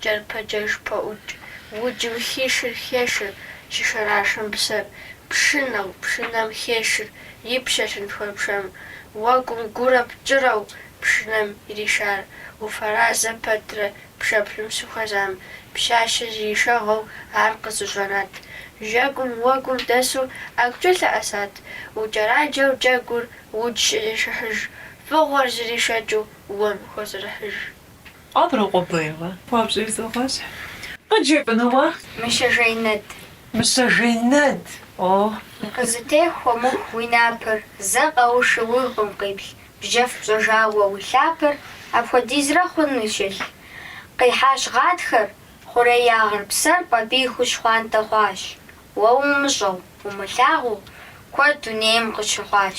Джэрпэджэж пэӏукӏ, уджым хишыр хешыр, щышэрашэм псэр, пшынэу, пшынэм хешыр, и пщэ щынхуэр пшэм, уэгум гурэ пкӏырэу пшынэм иришар, уфэразэ пэтрэ пшэплъым щыхуэзам, пщащэ зи шэгъуэу ар къызыщӏэнат, жьэгум уэгум дэсу ӏэгукӏэ лъэӏэсат, укӏэраджэу джэгур удж щызешыхьыж, фӏыгъуэр зришэкӏыу уэм хозэрыхьыж. Къабрэ Къобэева? Хуабжьу изогъэщхь. Къыджепӏэну? Мыщэ жейнэд. Мыщэ жейнэд, о. Къызэтех, уэ мыхъу, уи напэр, зэ къэуши уи гъуэм къиплъ, бжьэф пщӏэжауэ уи лъапэр апхуэдизрэ хъун ущылъ. Къихьащ гъатхэр, хъуреягъыр, псэр пӏэпихыу щхъуантӏэ хъуащ. Уэ умыщӏэу, умылъагъуу, куэд дунейм къыщыхъуащ.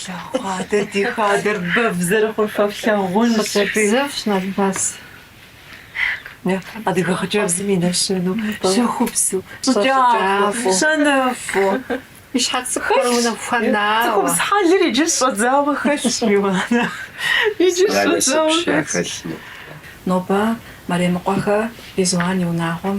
Слъагъу, адэр ди хадэр бэв зэрыхъур фэфлъагъунщ. Къытедзэфщ, Налмэс. Адыгэ хъыджэбзым и нэщэнэу щэхупсу, щӏыкӏафӏэу, щэныфӏэу. И щхьэц цӏыкӏухэр ухуэнауэ. Цӏыхубз хьэлыр иджы щыщӏэдзауэ хэлъщ, Миланэ. Иджы щыщӏэдзауэ хэлъщ. Нобэ Мэремыкъуэхэ Резуан и унагъуэм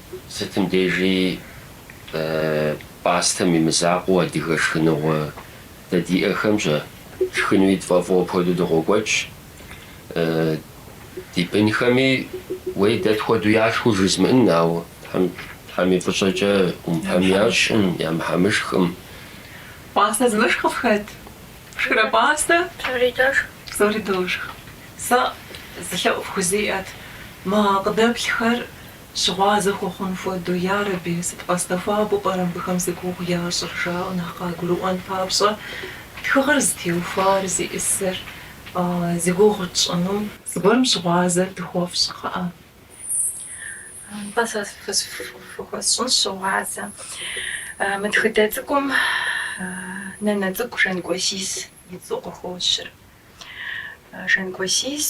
Сытым дежи пӏастэм и мызакъуэу адыгэ шхыныгъуэ дэ диӏэхэмкӏэ, шхынуи тфӏэфӏу апхуэдэу дыкъокӏуэкӏ. Ди бынхэми уей дэ тхуэдэу яшхыу жызмыӏэн, ауэ Тхьэм и фӏыщӏэкӏэ умпэм ящӏым, ямыхьэмышхым. Пӏастэ зымышх къыфхэт? Фшхырэ пӏастэ? Псори дошх. Псори дошх. Сэ зы лъэӏу фхузиӏэт, мы къыдэплъхэр. Щыгъуазэ хуэхъун хуэдэу, ярэби, сыт пӏастэ хуабэу пӏэрэ мыбыхэм зи гугъу ящӏыр, жаӏэу нэхъ къагурыӏуэн папщӏэ, тхыгъэр зытеухуар, зиӏысыр, зи гугъу тщӏыну. Зыгуэрым щыгъуазэр дыхуэфщӏ, кхъыӏэ. Атӏэ, сэ фыхуэсщӏынщ щыгъуазэ. Мы тхыдэ цӏыкӏум нанэ цӏыкӏу Жангуэсис и цӏэу къыхощыр. Жангуэсис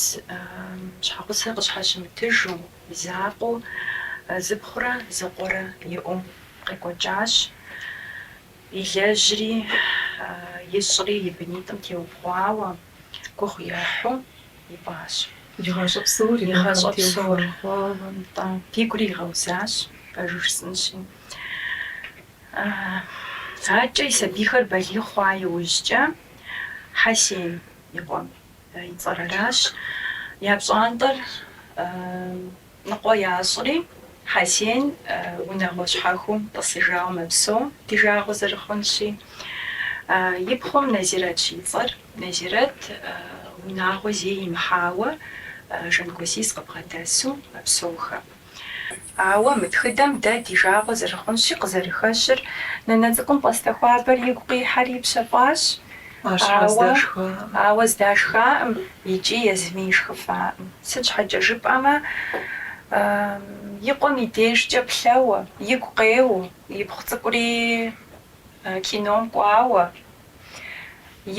щхьэгъусэр къыщхьэщымытыжу, закъуэу зы пхъурэ зы къуэрэ иӏэу къекӏуэкӏащ. Илэжьри, ищӏри и бынитӏым теубгъуауэ, гугъу ехьу ипӏащ. И гъащӏэ псори, и гъащӏэ псори. Ди гури игъэузащ, пэжу жысӏэнщи. Акӏэ и сабийхэр балигъ хъуа иужькӏэ, Хьэсен и къуэм и цӏэр аращ, я пщӏантӏэр ныкъуэ ящӏри, Хьэсен унагъуэ щхьэхуэу тӏысыжауэ мэпсэу, ди жагъуэ зэрыхъунщи. И пхъум Назирэтщ и цӏэр. Назирэт унагъуэ зэи имыхьауэ, Жангуэсис къыбгъэдэсу, мэпсэухэ. Ауэ мы тхыдэм дэ ди жагъуэ зэрыхъунщи къызэрыхэщыр, нанэ цӏыкӏум пӏастэ хуабэр игу къихьэри пщэфӏащ, ауэ здашхаӏым икӏи езыми ишхыфаӏым. Сыт щхьэкӏэ жыпӏэмэ, и къуэм и дежкӏэ плъэуэ, игу къеуэу, ипхъу цӏыкӏури кином кӏуауэ,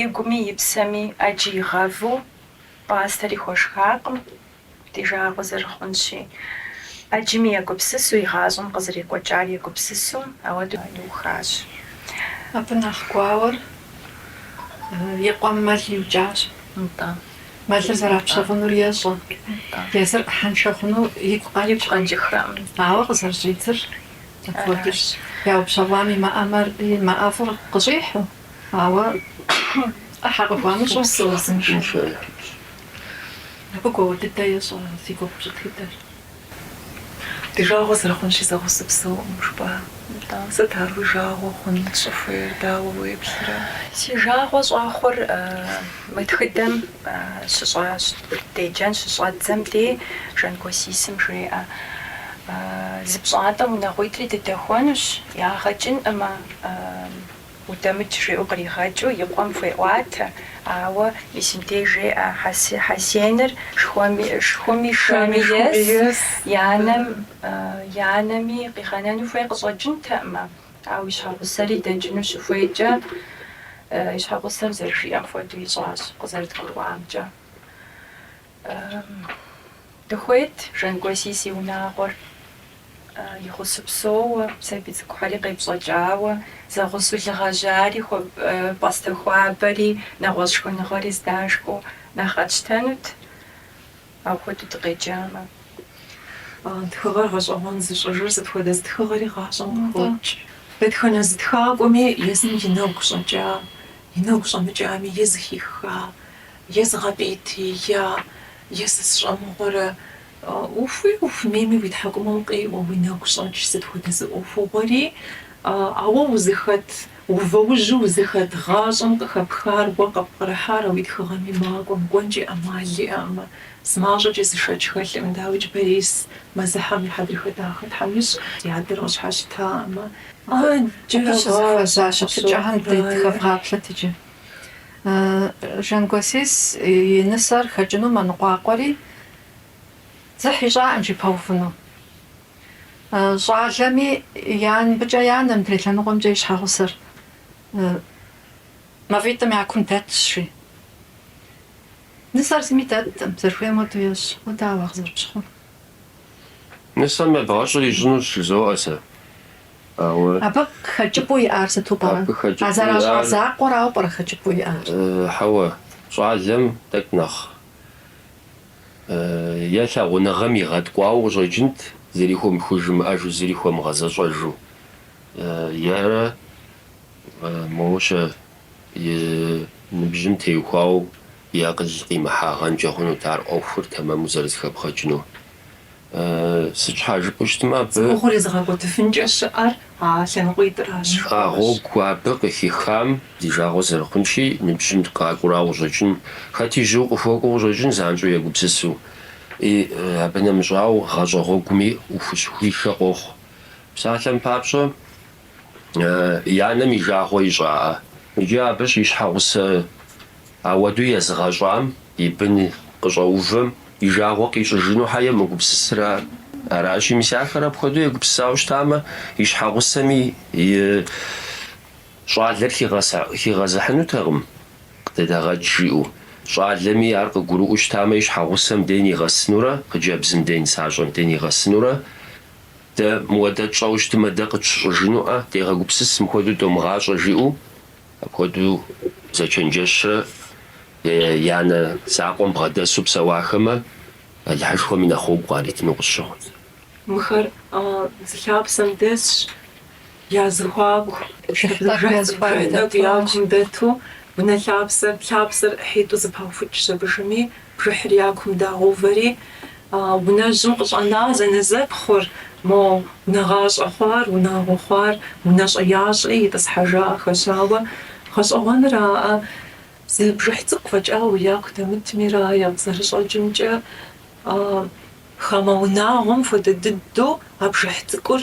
игуми и псэми ӏэджи игъэву пӏастэри хуэшхакъым, Ди жагъуэ зэрыхъунщи, ӏэджми егупсысу, и гъащӏэм къызэрекӏуэкӏар егупсысу, ауэдэу иухащ. Абы нэхъ гуауэр и къуэм мэл иукӏащ. Нтӏэ. Мэлыр зэрапщэфӏынур ещӏэ. Нтӏэ. Езыр ӏыхьэншэ хъуну игу къэкӏ. Игу къэкӏыххэӏым. Ауэ къызэрыщӏидзыр апхуэдэщ. Аращ. Яупщэфӏам и мэ ӏэмэр, и мэ ӏэфӏыр къыщӏихьу. Ауэ ӏыхьэ къыхуамыщӏу сыгъуэ сымышэт. Сымышэт. Абы гуауэ дыдэ ещӏэ зи гугъу тщӏы тхыдэр. Ди жагъуэ зэрыхъунщи зэгъусэу псэуӏым жыпӏа? Нтӏэ. Сыт ар уи жагъуэ хъун щӏыхуейр, дауэ уеплърэ? Си жагъуэ щӏэхъур мы тхыдэм щыщӏэ-щыдеджэн щыщӏэддзэм дей Жангуэсисым жеӏэ, Зы пщӏантӏэм унагъуитӏри дыдэхуэнущ, ягъэкӏынӏымэ. Удэмыкӏ, жеӏэу къригъэкӏыу и къуэм хуеӏуатэ, ауэ мис мыбдеж жеӏэ, Хьэсеныр шхуэми, шхуми, шэми ес, и анэм, и анэми къигъэнэну хуей къыщӏэкӏынтэӏымэ, ауэ и щхьэгъусэри дэкӏыну щыхуейкӏэ, и щхьэгъусэм зэрыжиӏэм хуэдэу ищӏащ, къызэрыдгурыӏуамкӏэ. Дыхуейт Жангуэсис и унагъуэр и гъусэу псэууэ, сабий цӏыкӏухэри къепщӏэкӏауэ, зэгъусэу лыгъэжьари, пӏастэ хуабэри, нэгъуэщӏ шхыныгъуэри здашхыу нэхъ къэтщтэнут, апхуэдэу дыкъеджамэ. Тхыгъэр гъэщӏэгъуэн зыщӏыжыр сыт хуэдэ зы тхыгъэри гъащӏэм къыхокӏ. Дэтхэнэ зы тхакӏуэми езым и нэгу щӏэкӏа, и нэгу щӏэмыкӏами е зыхиха. Езыгъэпӏейтей я е сысщӏэмыгъуэрэ ухуей ухуэмейми уи тхьэкӏумэм къиӏуэ уи нэгу щӏэкӏ сыт хуэдэ зы ӏуэхугъуэри, ауэ узыхэт, увэужьу узыхэт гъащӏэм къыхэпхар уэ къыппкърыхьар уи тхыгъэми макӏуэ, мыкӏуэнкӏи ӏэмал иӏэкъымэ, зы мащӏэкӏи зы шэч хэлъкъым, дауикӏ Борис Мэзыхьэм и хьэдрыхэ дахэ Тхьэм ищӏ, и адэр къыщхьэщытакъымэ. Абы щызыхуэза щытыкӏэхэм дыхэвгъаплъэт иджы. Жангуасис и нысэр хэкӏыну мэныкъуакъуэри, дзыхь ищӏакъым жи пэувыну. Щӏалэми мыбыкӏэ и анэ, мыдрей лъэныкъуэмкӏэ и щхьэгъусэр мафӏитӏым я кум дэтщи, нысэр зыми дэткъым, зэрыхуейм хуэдэу ещӏ. Уэ дауэ къызэрыпщыхъур? Нысэм ебгъэщӏыр ищӏынущ жызоӏэ сэ. Ауэ. Абы хэкӏыпӏэу иӏар сыту пӏэрэ? Абы хэкӏыпӏэу иӏар. А зэращӏа закъуэрауэ пӏэрэ хэкӏыпӏэу иӏар? Хьэуэ, щӏалэм тӏэкӏу нэхъ е лъагъуныгъэм игъэткӏуауэ къыщӏэкӏынт, зыри хуэмы хужымыӏэжу, зыри хуэмыгъэзэщӏэжу. Ерэ моуэ щэ И ныбжьым теухуауэ и акъыл къимыхьагъэнкӏэ хъунут ар ӏуэхур тэмэму зэрызэхэбгъэкӏыну. Сыт щхьа жыпӏэу щытмэ, абы. Ӏуэхугъуэр езыгъэкӏуэтэфынкӏэ щыӏэр а лъэныкъуитӏыращ. А гъуэгу абы къыхихам ди жагъуэ зэрыхъунщи, ныбжьым къакӏуэрауэ къыщӏэкӏын, хэти жьыуэ къыхуэкӏуэу къыщӏэкӏын, занщӏэу егупсысу. И, абы нэмыщӏауэ, гъащӏэ гъуэгуми ущыхуишэ къохъу. Псалъэм папщӏэ, и анэм и жагъуэ ищӏаӏэ. Иджы абы щӏ и щхьэгъусэ ауэдэу езыгъэщӏам и бын къыщӏэувэм и жагъуэ къищӏыжыну щхьэ емыгупсысра? Аращи, мис ахэр апхуэдэу егупсысауэ щытамэ, и щхьэгъусэми и щӏалэр хигъэзыхьынутэкъым, къыдедэгъэкӏ, жиӏэу. Щӏалэми ар къыгурыӏуэу щытамэ, и щхьэгъусэм дей нигъэсынурэ, хъыджэбзым дей, нысащӏэм дей нигъэсынурэ Дэ мыуэдэ тщӏэу щытымэ, дэ къытщыщӏыжынуӏэ, дегъэгупсыс, мыхуэдэу думыгъащӏэ, жиӏэу апхуэдэу зэчэнджэщрэ и анэ закъуэм бгъэдэсу псэуахэмэ, Алыхьышхуэми нэхъ гъуэгу къаритыну къысщыхъут. Мыхэр зы лъапсэм дэсщ. Я зэхуаку тӏэкӏу якум дэту, унэ лъапсэр, лъапсэр ӏыхьитӏу зэпахукӏщ абыхэми, бжыхьыр якум дагъэувэри, унэжьым къыщӏэна зэанэзэпхъур, мо унагъащӏэ хъуар, унагъуэ хъуар, унэщӏэ ящӏри, итӏысхьэжахэщ. Ауэ гъэщӏэгъуэнраӏэ, зы бжыхь цӏыкӏу фӏэкӏа уи яку дэмытми, я къызэрыщӏэкӏымкӏэ, хамэ унагъуэм хуэдэ дыдэу а бжыхь цӏыкӏур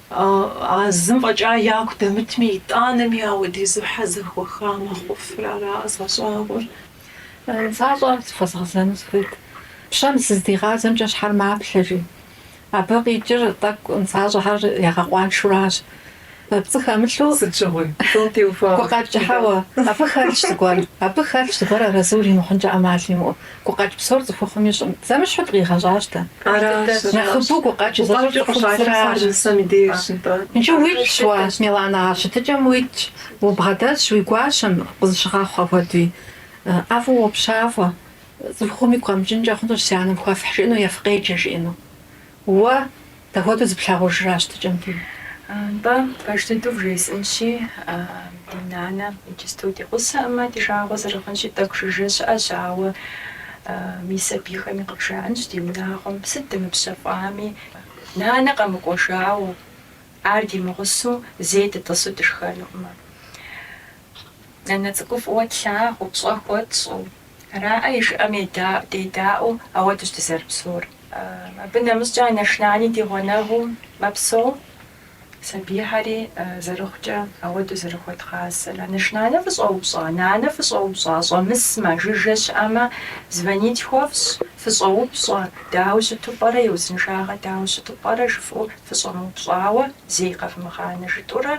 А зым фӏэкӏа яку дэмытми, итӏанэми ауэдизу хьэ зэхуэха мэхъуфыр ара згъэщӏагъуэр? Нысащӏэ зыхуэзгъэзэну сыхуейт. Пщэм зыздигъазэмкӏэ щхьэр маплъэ, жи. Абы къикӏыр тӏэкӏу нысащӏэхэр ягъэкъуаншуращ. Пцӏы хэмылъу. Сыт щыгъуи? Гукъэкӏыхьэ уэ. Абы хэлъщ зыгуэр. Абы хэлъщ зыгуэр арэзы уримыхъункӏэ ӏэмал имыӏэу. Гукъэкӏ псор цӏыхухъум ищӏым. Зэмыщхьу дыкъигъэщӏащ дэ. Аращ. Нэхъыбэу гукъэкӏ зыщӏыр цӏыхубзыращ. Нысэм и дежщ нтӏэ. Иджы уитщ уэ, Миланэ, а щытыкӏэм уитщ. Убгъэдэщ уи гуащэм, къызыщыгъэхъу хуэдуи. ӏэфӏу уопщафӏэ. Цӏыхухъум игу къэмыкӏынкӏэ хъунущ си анэм хуэфхь жиӏэну е фыкъеджэ жиӏэну. Уэ дапхуэдэу зыплъагъужрэ а щытыкӏэм деж? Нтӏэ, пэж дыдэу вжесӏэнщи, ди нанэ иджысту ди гъусэӏымэ, ди жагъуэ зэрыхъунщи, тӏэкӏу жыжьэ щыӏэщ, ауэ мис сабийхэми къыбжаӏэнщ ди унагъуэм, сыт дымыпщэфӏами, нанэ къэмыкӏуэжауэ, ар димыгъусу зэи дытӏысу дышхэнукъымэ. Нанэ цӏыкӏу фӏыуэ тлъагъуу, пщӏэ хуэтщӏу, Араӏэ и жыӏэм едаӏу, дедаӏуэу, ауэдэщ дызэрыпсэур. Абы нэмыщӏкӏэ анэшнани ди гъунэгъуу мэпсэу, сабийхьэри зэрыхъукӏэ ауэдэу зэрыхуэдгъасэр. Анэшнанэ фыщӏэупщӏа? Нанэ фыщӏэупщӏа? Щӏэмысмэ, жыжьэ щыӏэмэ, звонить хуэфщӏ, фыщӏэупщӏэ, дауэ щыту пӏэрэ, и узыншагъэр дауэ щыту пӏэрэ жыфӏыу фыщӏэмыупщӏауэ, зэи къэвмыгъанэ жытӏурэ,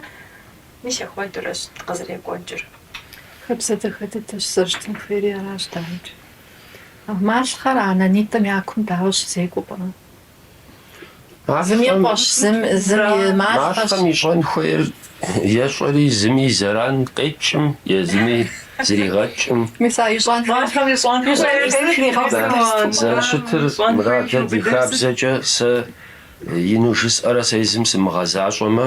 Мис ахуэдэурэщ дыкъызэрекӏуэкӏыр. Хабзэ дахэ дыдэщ зэрыщытын хуейри аращ дауикӏ. А малъхъэр а нанитӏым я кум дауэ щызекӏуэ пӏэрэ? Зым и къуэщ, зым и малъхъэщ. Малъхъэм ищӏэн хуейр ещӏэри, зыми и зэран къекӏым е зыми зригъэкӏым. Мис а ищӏэн хуейр. Малъхъэм ищӏэн хуейр зыри хригъэувыжынущ. Зэрыщытыр мыра дэ ди хабзэкӏэ сэ. Ину жысӏэрэ сэ езым сымыгъэзащӏэмэ,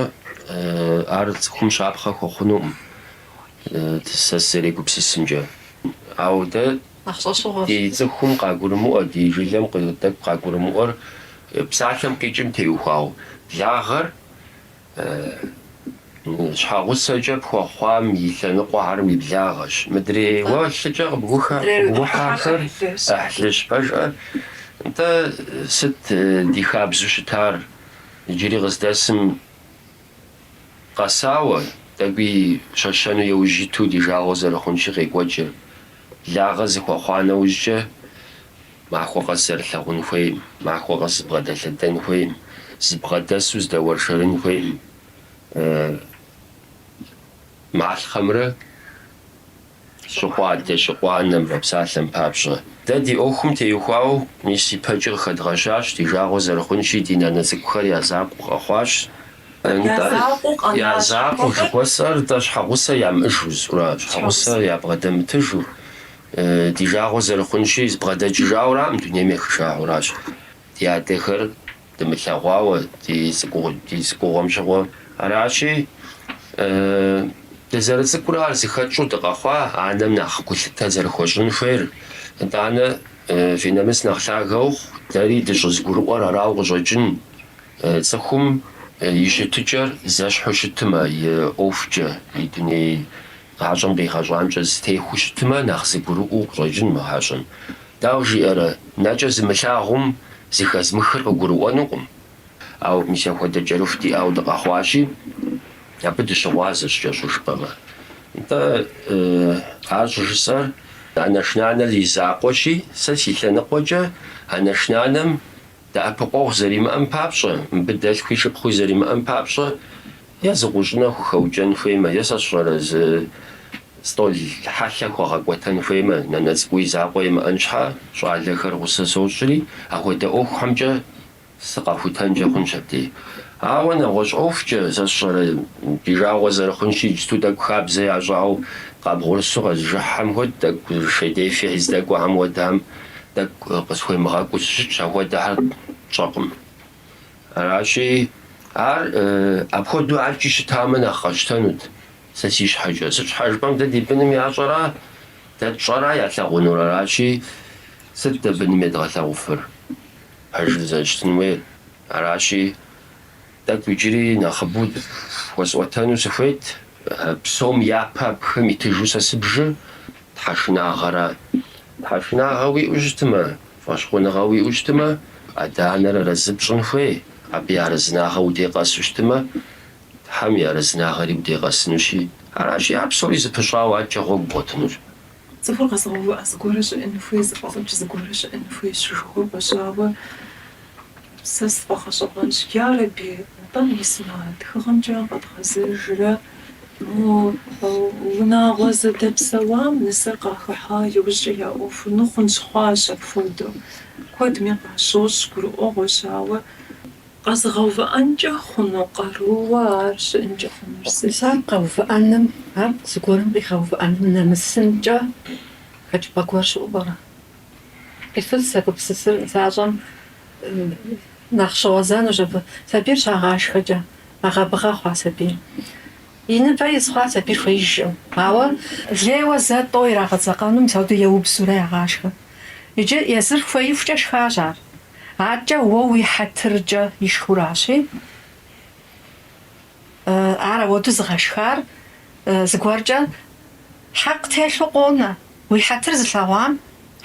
ар цӏыхум щапхъэ хуэхъунукъым, сэ сызэрегупсысымкӏэ. Ауэ дэ ди цӏыхум къагурымыӏуэ, ди жылэм тӏэкӏу къагурымыӏуэр псалъэм къикӏым теухуауэ, благъэр Щхьэгъусэкӏэ пхуэхъуам и лъэныкъуэхэр уи благъэщ. Мыдрей уэ лъыкӏэ къыбгухьэхэр ӏыхьлыщ. Пэжкъэ, нтӏэ, сыт ди хабзу щытар иджыри къыздэсым къэсауэ, тӏэкӏуи щэщэну еужь иту ди жагъуэ зэрыхъунщи къекӏуэкӏыр? Благъэ зэхуэхъуа нэужькӏэ, Махуэ къэс зэрылъагъун хуейм, махуэ къэс зэбгъэдэлъэдэн хуейм, зэбгъэдэсу зэдэуэршэрын хуейм. Малъхъэмрэ щыкъуадэ, щыкъуанэмрэ псалъэм папщӏэ. Дэ ди ӏуэхум теухуауэ мис ипэкӏи къыхэдгъэщащ, ди жагъуэ зэрыхъунщи, ди нанэ цӏыкӏухэр я закъуэ къэхъуащ. Нтӏэ, я закъуэ жыхуэсӏэр нтӏэ щхьэгъусэ ямыӏыжу жысӏуращ, щхьэгъусэ ябгъэдэмытыжу, Ди жагъуэ зэрыхъунщи, зэбгъэдэкӏыжауэракъым, дунейм ехыжауэращ. Ди адэхэр дымылъэгъуауэ, ди цӏыкӏугъуэм щыгъуэ. Аращи, дызэрыцӏыкӏурэ ар зыхэтщӏу дыкъэхъуа анэм нэхъ гулъытэ зэрыхуэщӏын хуейр. Итӏанэ фи нэмыс нэхъ лъагэ ухъу, дэри дыщӏызэгурыӏуэр арауэ къыщӏэкӏын. Цӏыхум и щытыкӏэр зэщхьу щытмэ, и ӏуэхукӏэ, и дуней Гъащӏэм къигъэщӏамкӏэ зэтехуэу щытмэ, нэхъ зэгурыӏуэу къыщӏэкӏын мы гъащӏэм. Дауэ жиӏэрэ, нэкӏэ зымылъагъум, зыхэзмыхыр къыгурыӏуэнукъым. Ауэ мис апхуэдэ кӏэрыху диӏауэ дыкъэхъуащи, абы дыщыгъуазэщ, кӏэщӏу жыпӏэмэ. Нтӏэ, ар щӏыжысӏэр анэш-нанэр и закъуэщи, сэ си лъэныкъуэкӏэ, анэш-нанэм дэӏэпыкъуэгъу зэримыӏэм папщӏэ, мыбы дэлъхуи шыпхъуи зэримыӏэм папщӏэ, Е зы гъущӏынэ хухэукӏэн хуеймэ, е сэ сщӏэрэ зы стӏол хьэлъэ хуэгъэкӏуэтэн хуеймэ, нанэ цӏыкӏу и закъуэ емыӏэн щхьэ, щӏалэхэр гъусэ сощӏри, апхуэдэ ӏуэхухэмкӏэ сыкъэхутэнкӏэ хъунщ абдей. Ауэ нэгъуэщӏ ӏуэхукӏэ, сэ сщӏэрэ ди жагъуэ зэрыхъунщи, иджыту тӏэкӏу хабзэ ящӏауэ, къабгъурысу къэзыжыхьхэм хуэдэу, тӏэкӏу шейдефи здэкӏуэхэм хуэдэхэм, тӏэкӏу къысхуемыгъэкӏуу сыщытщ, апхуэдэхэр тщӏэкъым. Аращи, ар апхуэдэу аркӏи щытамэ нэхъ къэсщтэнут, сэ си щхьэкӏэ. Сыт щхьэ жыпӏэм дэ ди быным ящӏэра, дэ тщӏэра ялъагъунур, аращи, сыт дэ быным едгъэлъагъуфыр? Пэжу дызэрыщытын хуейр. Аращи, тӏэкӏу иджыри нэхъыбэу тхуэсӏуэтэну сыхуейт, псом япэ абыхэм итыжу сэ сыбжыр тхьэшынагъэра. Тхьэшынагъэ уиӏэу щытмэ, Фӏэщхъуныгъэ уиӏэу щытымэ, адэ-анэр арэзы пщӏын хуей, абы и арэзынагъэ удекъэсу щытымэ, Тхьэм и арэзынагъэри удекъэсынущи, аращи, ар псори зэпыщӏауэ адэкӏэ гъуэгу бгъуэтынущ. Цӏыхур къэзыгъэувыӏэ зыгуэрэ щыӏэн хуей, зыфӏэлӏыкӏ зыгуэрэ щыӏэн хуейщ, жыхуэпӏэ щӏауэ. Сэ сфӏэгъэщӏэгъуэнщ, ярэби, атӏэ мис мы тхыгъэмкӏэ къэдгъэзэжрэ, мо унагъуэ зэдэпсэуам нысэр къахыхьа иужькӏэ я ӏуэхуну хъунщ, хъуащ апхуэдэу. Куэдми къащощӏ, гурыӏуэгъуэщ, ауэ къэзыгъэувыӏэнкӏэ хъуну къарууэ ар щыӏэнкӏэ хъунур сыт? Нысэр къэувыӏэным, ар зыгуэрым къигъэувыӏэным нэмысынкӏэ хэкӏыпӏэ гуэр щыӏэу пӏэрэ? Къисыр зэгупсысыр защӏэм нэхъ щыгъуэзэнущ абы, сабийр щагъашхэкӏэ, агъэбыгъэ хъуа сабийр. И ныбэ из хъуа сабийр хуеижкъым, ауэ. Лейуэ зэ тӏэу ирагъэдзэкъэну мис ауэду еубзурэ ягъашхэ. Иджы езыр хуеихукӏэ шхащ ар. Аркӏэ уэ уи хьэтыркӏэ ишхуращи. Ар ауэду зыгъэшхар зыгуэркӏэ хьэкъ телъу къонэ, уи хьэтыр зылъэгъуам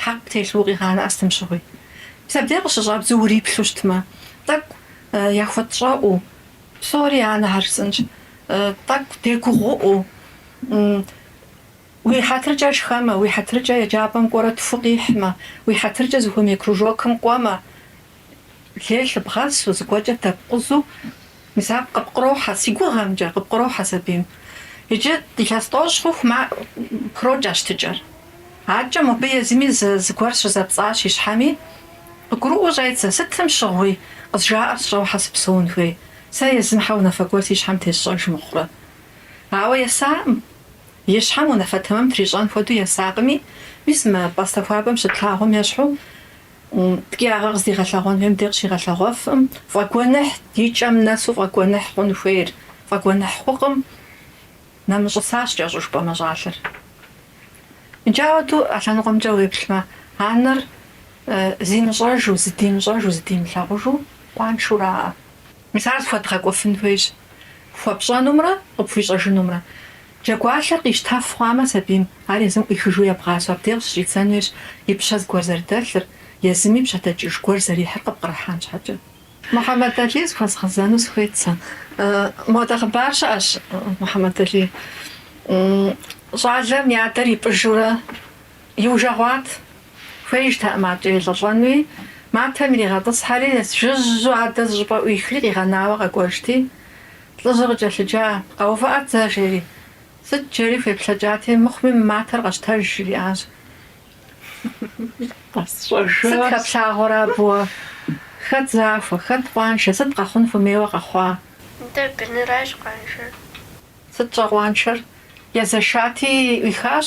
хьэкъ телъу укъигъэнэӏэ сытым щыгъуи. Мис абдей къыщыщӏэбдзу уриплъу щытмэ, тӏэкӏу яхуэтщӏэӏуу, псори анэ ар сынщ, тӏэкӏу дегугъуӏуу, уи хьэтыркӏэ шхэмэ, уи хьэтыркӏэ еджапӏэм кӏуэрэ тху къихьмэ, уи хьэтыркӏэ зыхуэмей кружокым кӏуэмэ, Лей лъыбгъэсу, зыгуэркӏэ дэпкъузу мис ар къыпкърохьэ, си гугъэмкӏэ къыпкърохьэ сабийм. Иджы илъэс тӏощӏ хъухумэ пхрокӏ а щытыкӏэр. Аркӏэ мыбы езыми зы зыгуэр щызэпцӏащ и щхьэми, къыгурыӏуэу щӏедзэ, сытым щыгъуи, къызжаӏэр сщӏэу щхьэ сыпсэун хуей, сэ езым щхьэ унафэ гуэр си щхьэм тесщӏэж мыхъурэ. Ауэ есакъым. И щхьэм унафэ тэмэм трищӏэн хуэдэу есакъыми, мис мы пӏастэ хуабэм щытлъагъум ещхьу, Ткӏиягъэ къыздигъэлъэгъуэн хуейм де къыщигъэлъэгъуэфкъым, фӏэгуэныхь и кӏэм нэсу фӏэгуэныхь хъун хуейр, фӏэгуэныхь хъукъым, нэмыщӏысащ кӏэщӏу жыпӏэмэ щӏалэр. Иджы ауэду а лъэныкъуэмкӏэ уеплъмэ, анэр зимыщӏэжу, зыдимыщӏэжу, зыдимылъагъужу къуаншэу араӏэ. Мис ар зэхуэдгъэкӏуэфын хуейщ хуэпщӏэнумрэ къыпхуищӏэжынумрэ. Джэгуалъэр къищтэф хъуамэ сабийм, ар езым къихыжу ебгъасэу, абдеж щӏидзэн хуейщ и пщэ зыгуэр зэрыдэлъыр, езыми пщэдэкӏыж гуэр зэрихьыр къыпкърыхьэн щхьэкӏэ. Мухьэмэдалий зыхуэзгъэзэну сыхуейт сэ. Моуэдэ хъыбар щыӏэщ, Мухьэмэдалий щӏалэм и адэр ипӏыжурэ иужэгъуат, хуейжтэкъым адэкӏэ елӏэлӏэнуи, матэм иригъэтӏысхьэри, жыжьэу адэ зыщӏыпӏэ ӏуихри къигъэнауэ къэкӏуэжти, Лӏыжьыр къыкӏэлъыджа, къэувыӏэт зэ, жери. Сыт жери хуеплъэкӏати, мыхъуми мы матэр къэщтэж, жриӏащ. Къэсщӏэжащ. Сыт хэплъагъуэр абы уэ? Хэт захуэ, хэт къуаншэ, сыт къэхъун хуэмейуэ къэхъуа? Дэ быныращ къуаншэр. Сыт щӏэкъуаншэр? Езэшати, ӏуихащ.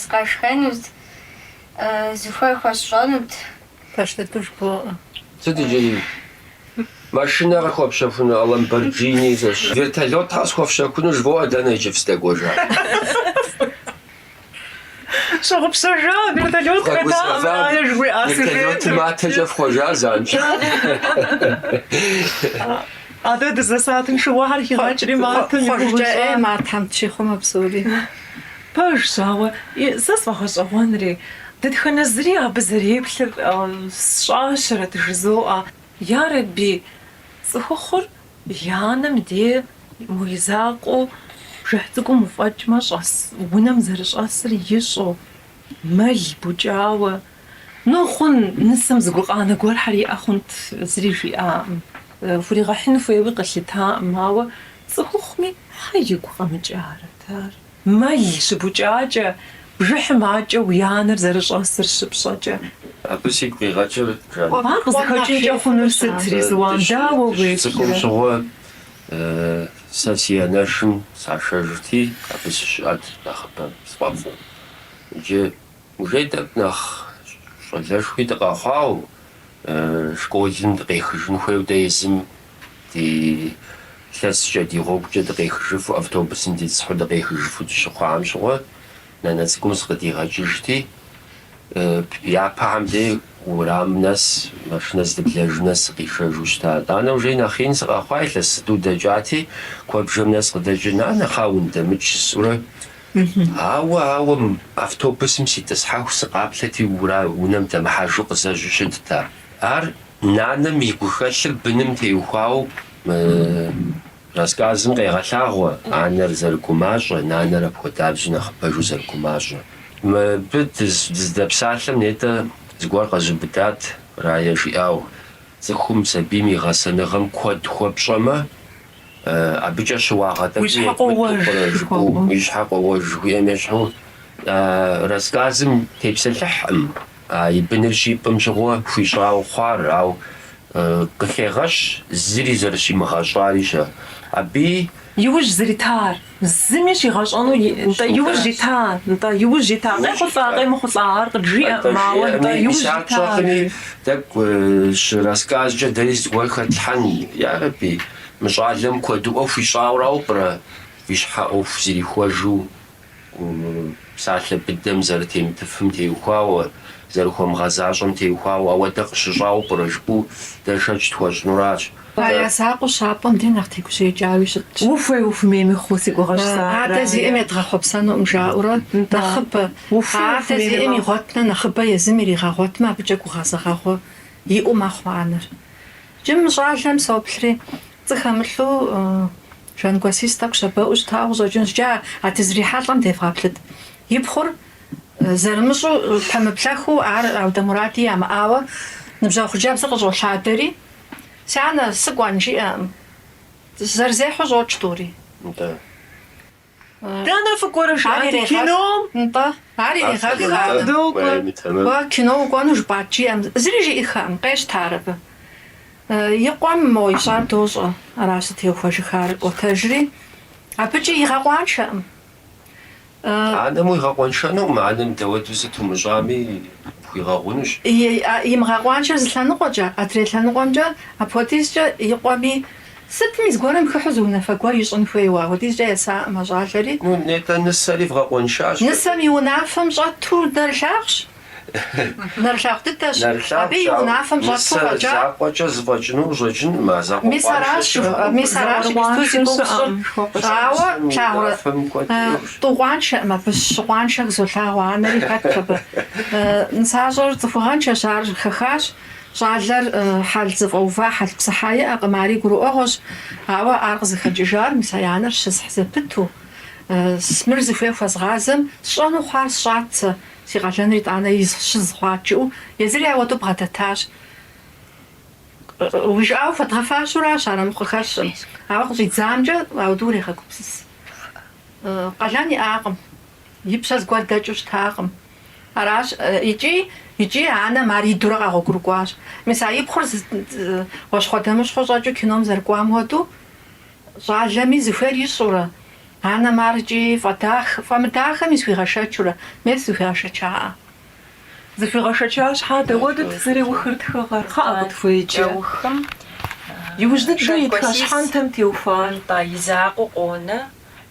Згъэшхэнут, зыхуей хуэсщӏэнут. Пэж дыдэу жыбоӏэ. Сыт иджыри? Машинэ къыхуэпщэхуну а ламборджини зэщ. Вертолет къысхуэфщэхуну жывоӏэ дэнэ иджы фыздэкӏуэжар. Щыгъупщэжа, вертолет хэтакъэ жыхуиӏа сюжетыр. Вертолетыр матэкӏэ фхъуэжа занщӏэу. Адэ дызэса тыншыгъуэхэр хигъэкӏри матэм и гугъу ищӏащ. Кхъуэжыкӏэ, ма Тхьэм тщихъумэ псори. Пэжщ, ауэ сэ сфӏэгъэщӏэгъуэнри, дэтхэнэ зыри абы зэреплъыр сщӏащэрэт, жызоӏэ. Ярэби, цӏыхухъур и анэм де мо и закъуэу бжыхь цӏыкӏум уфӏэкӏмэ щӏэс, унэм зэрыщӏэсыр ищӏэу, мэл букӏауэ, Ну, хъун, нысэм зы гукъанэ гуэрхэр иӏэ хъунт, зыри жиӏакъым, хуригъэхьын хуейуи къылъытакъым, ауэ цӏыхухъуми хьэ игу къэмыкӏарэт ар. Мэл щыбукӏакӏэ, бжыхьым акӏэ уи анэр зэрыщӏэсыр щыпщӏэкӏэ. Абы сигу къигъэкӏыжа. Ар къызыхэкӏынкӏэ хъунур сыт, Ризуан, дауэ уеплърэ? Цӏыкӏум щыгъуэ сэ си анэшым сашэжырти, абы сыщыӏэт нэхъыбэм сфӏэфӏу. Иджы Ужей тӏэкӏу нэхъ щӏалэшхуи дыкъэхъуауэ, школым дыкъехыжын хуейу дэ езым ди лъэскӏэ, ди гъуэгукӏэ дыкъехыжыфу, автобусым дитӏысхьу дыкъехыжыфу дыщыхъуам щыгъуэ, нанэ цӏыкӏум сыкъыдигъэкӏыжти, япэхэм дей уэрамым нэс, машинэ здыблэжым нэс сыкъишэжу щыта. Итӏанэ ужей нэхъ ин сыкъэхъуа, илъэс сыту дэкӏати, куэбжэм нэс къыдэкӏыу, Нанэ, кхъа, уныдэмыкӏ, жысӏэурэ Ауэ, ауэ, автобусым ситӏысхьэху сыкъаплъэти, ура, унэм дэмыхьэжу къызэжьу щытт ар. Ар нанэм и гухэлъыр быным теухуауэ рассказым къегъэлъагъуэ, анэр зэрыгумащӏэ, нанэр апхуэдабзэу нэхъыбэжу зэрыгумащӏэ. Мыбы дыздэпсалъэм нетӏэ зыгуэр къэзубыдат, Рае жиӏауэ, цӏыхум, сабийм и гъэсэныгъэм куэд хуэпщӏэмэ, Абыкӏэ щыуагъэ тӏэкӏуи Уи щхьэ къоуэж жыхуиӏэу. Уи щхьэ къоуэж жыхуиӏэм ещхьу рассказым тепсэлъыхькъым а и быныр щипӏым щыгъуэ хуищӏауэ хъуар, ауэ къыхегъэщ зыри зэрыщимыгъэщӏари щэ. Абы иужь зэритар. Зыми щигъэщӏэну и. Нтӏэ, иужь ита, нтӏэ, иужь ита. Къехъулӏа, къемыхъулӏа, ар къыбжиӏэкъым, ауэ, нтӏэ, иужь ита, ар жи. Тӏэкӏу щырассказкӏэ дэри зыгуэр хэтлъхьэн, ярэби, мы щӏалэм куэдыӏуэ хуищӏауэрауэ пӏэрэ и щхьэ ӏуэху зэрихуэжу псалъэ быдэм зэрытемытыфым теухуауэ, зэрыхуэмыгъэзащӏэм теухуауэ ауэдэ къыщыщӏауэ пӏэрэ жыпӏэу дэ шэч тхуэщӏынуращ. А я закъуэ щапӏэм дэ нэхъ тегужьеикӏауи щытщ. Ухуей ухумей мыхъуу си гугъэщ сэ ар. Адэ зиӏэм едгъэхъуэпсэнукъым жаӏэурэ нэхъыбэ. Ухуей Адэ ухумей зиӏэм мыхъу. игъуэтмэ нэхъыбэ езым иригъэгъуэтмэ абыкӏэ гугъэзэгъэгъуэ иӏэу мэхъу анэр. Джы мы щӏалэм соплъри пцӏы хэмылъу жангуасис тӏэкӏу щабэӏуу щытауэ къыщӏэкӏынщ. Джы а дызрихьэлӏэм девгъэплъыт. И пхъур зэрымыщӏу пэмыплъэххэу ар ауэдэ муради ямыӏауэ ныбжьэгъу хъыджэбзыр къыщӏолъадэри. Си анэ, сыкӏуэн, жиӏэкъым. Зэрызехьэу щӏокӏ тӏури. Нтӏэ. Дэнэ фыкӏуэрэ жаӏэ ди кином? Нтӏэ. Ар иригъэх анэм. Докӏуэ. Уэ кино укӏуэну жыпӏат, жиӏэм. Зыри жиӏэхэкъым, къещтэ ар абы. И къуэм мо ищӏар дощӏэ, аращ зытеухуэжыхар, ӏуэтэжри. Абыкӏи игъэкъуаншэкъым. Анэм уигъэкъуэншэнукъым, анэм дауэду сыт умыщӏами пхуигъэгъунущ. Имыгъэкъуаншэр зы лъэныкъуэкӏэ, адрей лъэныкъуэмкӏэ, апхуэдизкӏэ и къуэми, сытми зыгуэрым хыхьу зы унафэ гуэр ищӏын хуейуэ, апхуэдизкӏэ есакъым а щӏалэри. Ну, нетӏэ нысэри вгъэкъуэншащ. Нысэм и унафэм щӏэту нэрылъагъущ. Нэрылъагъу дыдэщ. Абы и унафэм щӏэту фӏэкӏа. Закъуэкӏэ зыфӏэкӏыну ущӏэкӏынкъым а закъуэ Мис аращ, мис аращ иджыпсту зи гугъу сщӏыр. Ауэ плъагъурэ тӏу къуаншэкъым абы, щы къуаншэ къызолъагъу анэри хэтщ абы. Нысащӏэр цӏыхугъэншэщ, ар хэхащ. Щӏалэр хьэл зэфӏэува хьэл псыхьа иӏэкъым, ари гурыӏуэгъуэщ. Ауэ ар къызыхэкӏыжар, мис а и анэр щысхь зэпыту. Мыр зыхуей хуэзгъазэм, сщӏэну хъуар сщӏат сэ. Си къалэныр итӏанэ из щыз хъуат, жыӏэу, езыри ауэдэу бгъэдэтащ. Уи жыӏауэ хуэдгъэфащэуращ армыхъу къыхэщкъым, ауэ къыщӏидзамкӏэ ауэдэу урегъэгупсыс. Къалэн иӏакъым, и пщэ зыгуэр дэкӏыу щытакъым. Аращ, икӏи, икӏи анэм ар идурэ къэгъуэгурыкӏуащ. Мис а и пхъур зы гъуэщхъуэдэмыщхъуэ щӏэкӏыу кином зэрыкӏуам хуэдэу, щӏалэми зыхуейр ищӏурэ? Анэм ар икӏи фӏэдахэ, фӏэмыдахэми зыхуигъэшэчурэ, мес зыхуигъэшэчаӏэ. Зыхуигъэшэча щхьа дауэдэт зэреухыр тхыгъэр, кхъыӏэ, къытхуеджэ. Иужь дыдэу итха щхьэнтэм теухуар? Нтӏэ, и закъуэ къонэ.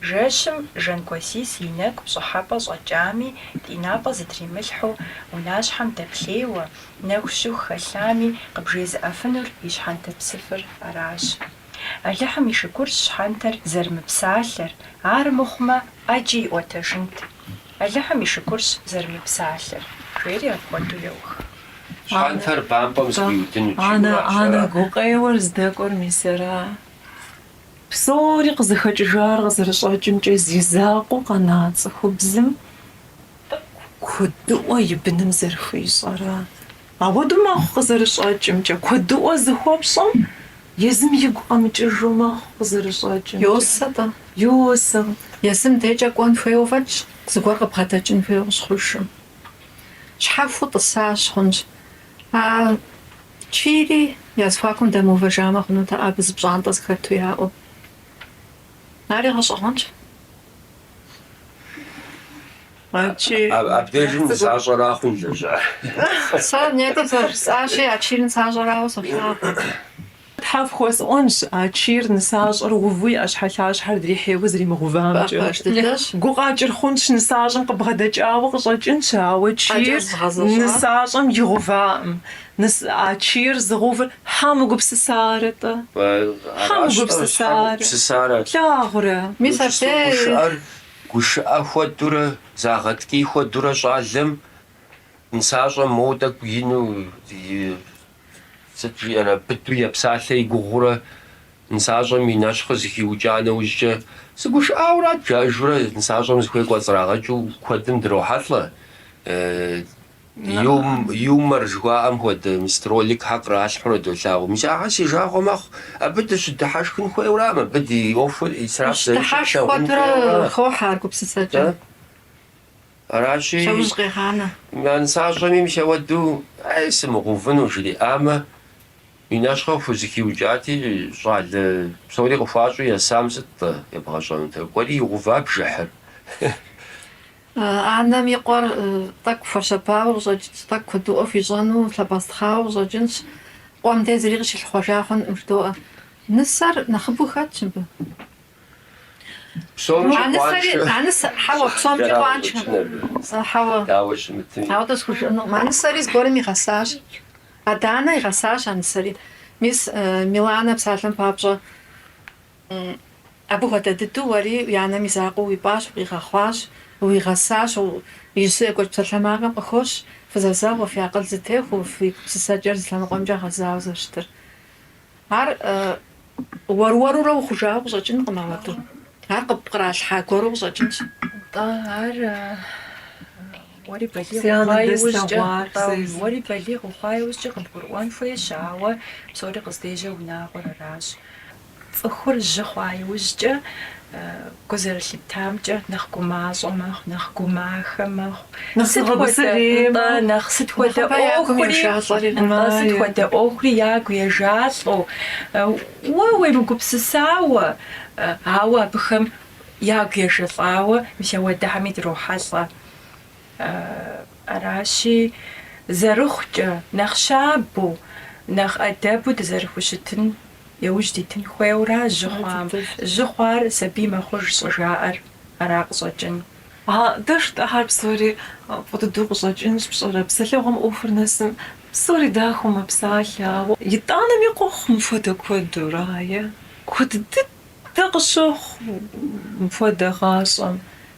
Жэщым Жанкуэсис и нэгу пщӏыхьэпӏэ щӏэкӏами, и напӏэ зытримылъхьу, унащхьэм дэплъейуэ, нэху щыху хэлъами, къыбжезыӏэфынур и щхьэнтэ псыфыр аращ. Алыхьым и шыкурщ щхьэнтэр зэрымыпсалъэр, армыхъумэ, ӏэджи иӏуэтэжынт. Алыхьым и шыкурщ зэрымыпсалъэр, жери апхуэдэу еух. Щхьэнтэр бампӏэм зэгуиудынут жиӏэращ ар. Анэ гукъеуэр здэкӏуэр мис ара. Псори къызыхэкӏыжар къызэрыщӏэкӏымкӏэ, зи закъуэу къэна цӏыхубзым тӏэкӏу куэдыӏуэ и быным зэрыхуищӏэра. Апхуэдэу мэхъу къызэрыщӏэкӏымкӏэ. Куэдыӏуэ зыхуэпщӏэм езым игу къэмыкӏыжу мэхъу къызэрыщӏэкӏымкӏэ. Йосэ-тӏэ? Йосэ. Езым декӏэ кӏуэн хуейуэ фӏэкӏ, зыгуэр къыбгъэдэкӏын хуейуэ къыщыхъужкъым. Щхьэхуэу тӏысащ хъунщ. А чийри я зыхуакум дэмыувэжамэ хъунутэкъэ абы зы пщӏантӏэ зыхэту яӏэу. Ари гъэщӏэгъуэнщ. Абдежым нысащӏэра хъун лэжьа? Сэ нетӏэ зэрыжысӏащи, а чийр нысащӏэрауэ солъагъу. Тхьэ фхуэсӏуэнщ а чийр нысащӏэр уву и ӏэщхьэлъащхьэр дрихьейуэ зэримыгъувамкӏэ. Гукъэкӏыр хъунщ нысащӏэм къыбгъэдэкӏауэ къыщӏэкӏынщ, ауэ чийр нысащӏэм игъуваӏым. А чийр зыгъувыр хьэмэ егупсысара-тӏэ? Хьэмэ егупсысара? Плъагъурэ? Мис абдеж Гушыӏэ хуэдурэ загъэткӏий хуэдурэ щӏалэм нысащӏэм моуэ тӏэкӏу ину, сыт жиӏэрэ, быду епсалъэ и гугъэурэ нысащӏэм и нэщхъыр зыхиукӏа нэужькӏэ, Сыгушыӏауэрат, жаӏэжурэ нысащӏэм зыхуей кӏуэцӏрагъэкӏыу куэдым дрохьэлӏэ. Юмор жыхуаӏэм хуэдэ мис роликхэр къралъхьэурэ долъагъу. Мис ахэр си жагъуэ мэхъу, абы дыщыдыхьэшхын хуейуэрам, абы ди ӏуэхур ӏисраф зэрищӏыр щыдыхьэшх хуэдурэ хохьэ ар гупсысэкӏэ. Аращи, лъэужь къегъанэ. А нысащӏэми мис ауэдэу, ей, сымыгъэувыну, жриӏамэ, и нэщхъыр хузыхиукӏати, щӏалэ псори къыхуащӏу есам сыт-тӏэ ебгъэщӏэнут, кӏуэри игъува бжыхьыр. Анэм и къуэр тӏэкӏу хуэщэбауэ къыщӏэкӏынщ, тӏэкӏу куэдыӏуэ хуищӏэну лъэпӏэстхъауэ къыщӏэкӏынщ, къуэм де зыри къыщилъыхъуэжа хъункъым, жыдоӏэ. Нысэр нэхъыбэу хэтщ мыбы. А нысэри, а нысэр, хьэуэ, псомкӏи къуаншэ. Хьэуэ. Ауэдэ схужыӏэнукъым. А нысэри зыгуэрым игъэсащ. Адэ-анэ игъэсащ а нысэри. Мис Миланэ псалъэм папщӏэ Абы хуэдэ дыдэу уэри уи анэм и закъуэу уипӏащ, укъигъэхъуащ, уигъэсащ, иджыпсту екӏуэкӏ псалъэмакъым къыхощ, фызэзэгъуэ, фи акъыл зытехуэу, фи гупсысэкӏэр зы лъэныкъуэмкӏэ гъэзауэ зэрыщытыр. Ар уэр-уэрурэ ухъужауэ къыщӏэкӏынкъым ауэду, ар къыпкъралъхьа гуэру къыщӏэкӏынщ. Атӏэ, ар уэри балигъ ухъуа иужькӏэ, атӏэ, уэри балигъ ухъуа иужькӏэ къыбгурыӏуэн хуейщ, ауэ псори къыздежьэр унагъуэр аращ. Цӏыхур жьы хъуа иужькӏэ гу зэрылъыптамкӏэ нэхъ гумащӏэ мэхъу, нэхъ гумахэ мэхъу. Сыт хуэдэ ӏуэхури ягу ежалӏэу, уэ уемыгупсысауэ, ауэ абыхэм ягу ежэлӏауэ мис ауэдэхэми дрохьэлӏэ. Аращи, зэрыхъукӏэ, нэхъ щабэу, нэхъ ӏэдэбу дызэрыхущытын. Иужь дитын хуейуэра жьы хъуам? Жьы хъуар сабий мэхъуж щӏыжаӏэр ара къыщӏэкӏын? А дэ жытӏэхэр псори фӏы дыдэу къыщӏэкӏынщ пщӏэрэ? Псалъэгъуэм ӏуэхур нэсым псори дахэу мэпсалъэ, ауэ итӏанэми къохъу мыпхуэдэ куэду, рае? Куэд дыдэ къыщохъу мыпхуэдэ гъащӏэм,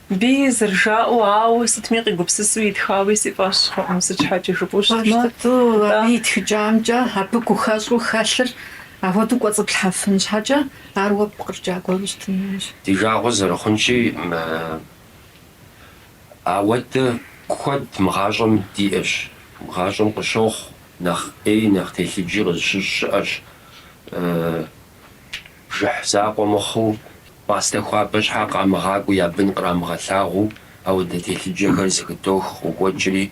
Бий зэрыжаӏэу, ауэ сытми къигупсысу итхауи си фӏэщ хъуӏым, сыт щхьэкӏэ жыпӏэу щытмэ. Абы и тхыкӏэмкӏэ, абы гухэщӏу хэлъыр ахуэдэу кӏуэцӏыплъхьэфын щхьэкӏэ, ар уэ пкъырыкӏа гуэру щытын хуейщ. Ди жагъуэ зэрыхъунщи, ауэдэ куэд мы гъащӏэм диӏэщ. Мы гъащӏэм къыщохъу нэхъ ӏей, нэхъ телъыджи къызыщыщӏ щыӏэщ. Бжыхь закъуэ мыхъуу, пӏастэ хуабэ щхьэ къамыгъакӏуэу я бын кърамыгъэлъагъуу, ауэдэ телъыджэхэр зэхыдох къокӏуэкӏри,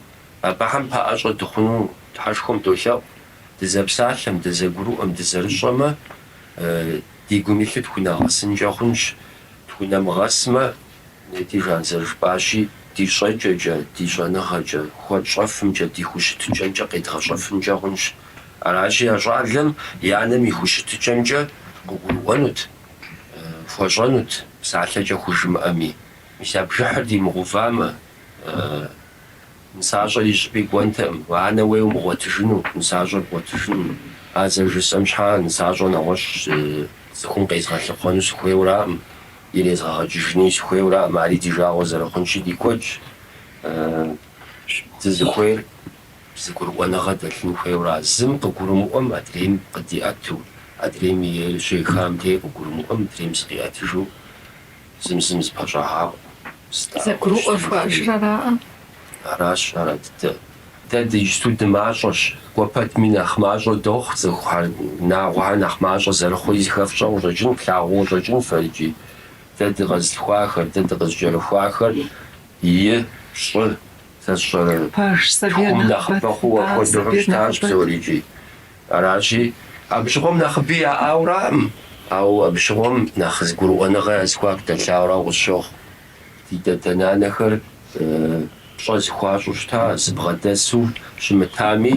абыхэм пэӏэщӏэ дыхъуну Тхьэшхуэм долъэӏу, дызэпсалъэм, дызэгурыӏуэм, дызэрыщӏэмэ, ди гум илъыр тхунэгъэсынкӏэ хъунщ, тхунэмыгъэсмэ, Нетӏэ, Жан, зэрыжыпӏащи, ди щӏэкӏэкӏэ, ди щӏэныгъэкӏэ, хуэтщӏэфымкӏэ, ди хущытыкӏэмкӏэ къедгъэщӏэфынкӏэ хъунщ. Аращи, а щӏалэм и анэм и хущытыкӏэмкӏэ къыгурыӏуэнут, хуэщӏэнут псалъэкӏэ хужымыӏэми. Мис а бжыхьыр димыгъувамэ, нысащӏэр зыщӏыпӏи кӏуэнтэкъым. Анэ уей умыгъуэтыжыну, нысащӏэр бгъуэтыжыну. А зэрыжысӏэм щхьа, нысащӏэ нэгъуэщӏ цӏыхум къезгъэлъыхъуэну сыхуейуэраӏым. Ирезгъэгъэкӏыжыни сыхуейуэракъым, ари ди жагъуэ зэрыхъунщи, ди куэдщ. Дызыхуейр зыгурыӏуэныгъэ дэлъын хуейуэра, зым къыгурымыӏуэм адрейм къыдиӏэту, адрейм и ейр щехам дей къыгурымыӏуэм, адрейм зыкъиӏэтыжу зым-зым зыпэщӏагъакъуэу. Зэгурыӏуэр жыхуаӏэжраӏэ? Аращ, ара дыдэ. Дэ иджыпсту дымащӏэщ. Кӏуэ пэтми нэхъ мащӏэ дохъу цӏыхухэр, унагъуэхэр нэхъ мащӏэ зэрыхъури зыхэфщӏэу къыщӏэкӏын, флъагъуу къыщӏэкӏын фэри икӏи. Дэ дыкъэзылъхуахэр, дэ дыкъызыкӏэрыхуахэр и, пщӏы, сэ сщӏэрэ, тхум нэхъыбэ хъууэ хуэдэу щытащ псори икӏи. Аращи, абы щыгъуэм нэхъыби яӏауэракъым, ауэ абы щыгъуэм нэхъ зыгурыӏуэныгъэ я зэхуаку дэлъауэрауэ къысщохъу. Ди дадэ-нанэхэр пщӏэ зыхуащӏу щыта, зыбгъэдэсу щымытами,